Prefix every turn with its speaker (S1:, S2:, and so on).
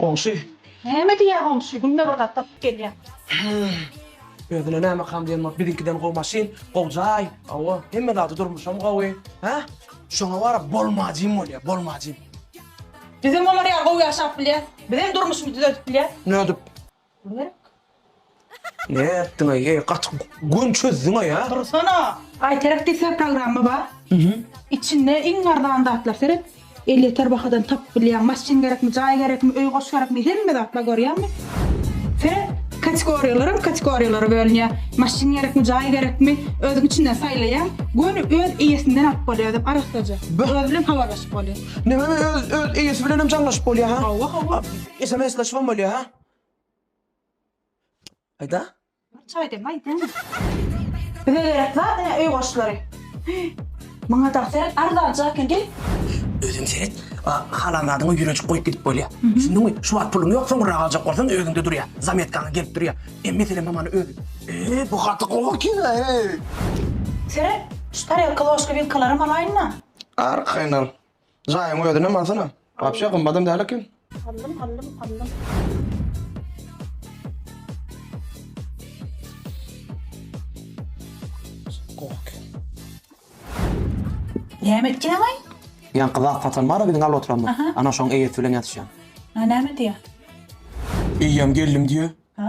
S1: Goňşy. Näme
S2: diýýä goňşy, günde bir gatladyp gelýä.
S1: Hää. Özüne nämekam diýen bolup biziňkiden gowy maşyn, gowy jaý, hawa, hemme zady durmuşam gowy. Hä? Şoňa bara bolmajym bolýa, bolmajym. Bizem
S2: olar ýaly gowy ýaşap bilýäs. Bizem durmuşymyzy düzedip bilýäs. Nödip?
S1: Ne etdiň eý eý gaty gün çözdüňä ýa. Dursana! Baýterak
S2: diýseň programma bar. Içinde iň arzan zatlar seret. Elýeter bahadan tapyp bilýäň. Maşyn gerekmi, jaý gerekmi, öý goş gerekmi, hemme zat bar görýäňmi? Seret, kategoriýalaram kategoriýalara bölünýär. Maşyn gerekmi, jaý gerekmi, özüň içinden saýlaýaň. Göni öz eýesinden alyp bolýar özem arassaja. Özi bilen habarlaşyp bolýar. Näme öz öz
S1: eýesi bilenem jaňlaşyp bolýar ha? Hawa
S2: hawa. Sms-leşibem
S1: bolýar ha? Aýda. Çaý dem
S2: aýda. Bize gerek zat ene öý goşlary. Maňa da seret arzanja eken diý. Özüň seret.
S1: Halan zadyňy ýüreçik goýup gidip bolýa. Düşündiňmi? Şu wagt puluň ýok, soňurrak aljak bolsaň özüňde durýa. Zametkaňa gelip durýa. Em mesele mamany özi. Eý, bu gaty gowy kino, eý.
S2: Seret, şu tarelka, ložka, wilkalaram alaýyn-da. Arkaýyn al.
S1: Jaýyň özüne mansana. Wapşe gymmadam däl eken. Allym allym allym.
S2: Gok. Näme etýäň aý? Ýan gyzak satan
S1: bar biziň alda oturanlar. Aha. Ana şoň eýesi bilen ýatyşýan. Ha näme
S2: diýýä?
S1: Eýýäm geldim diýýä. Ha?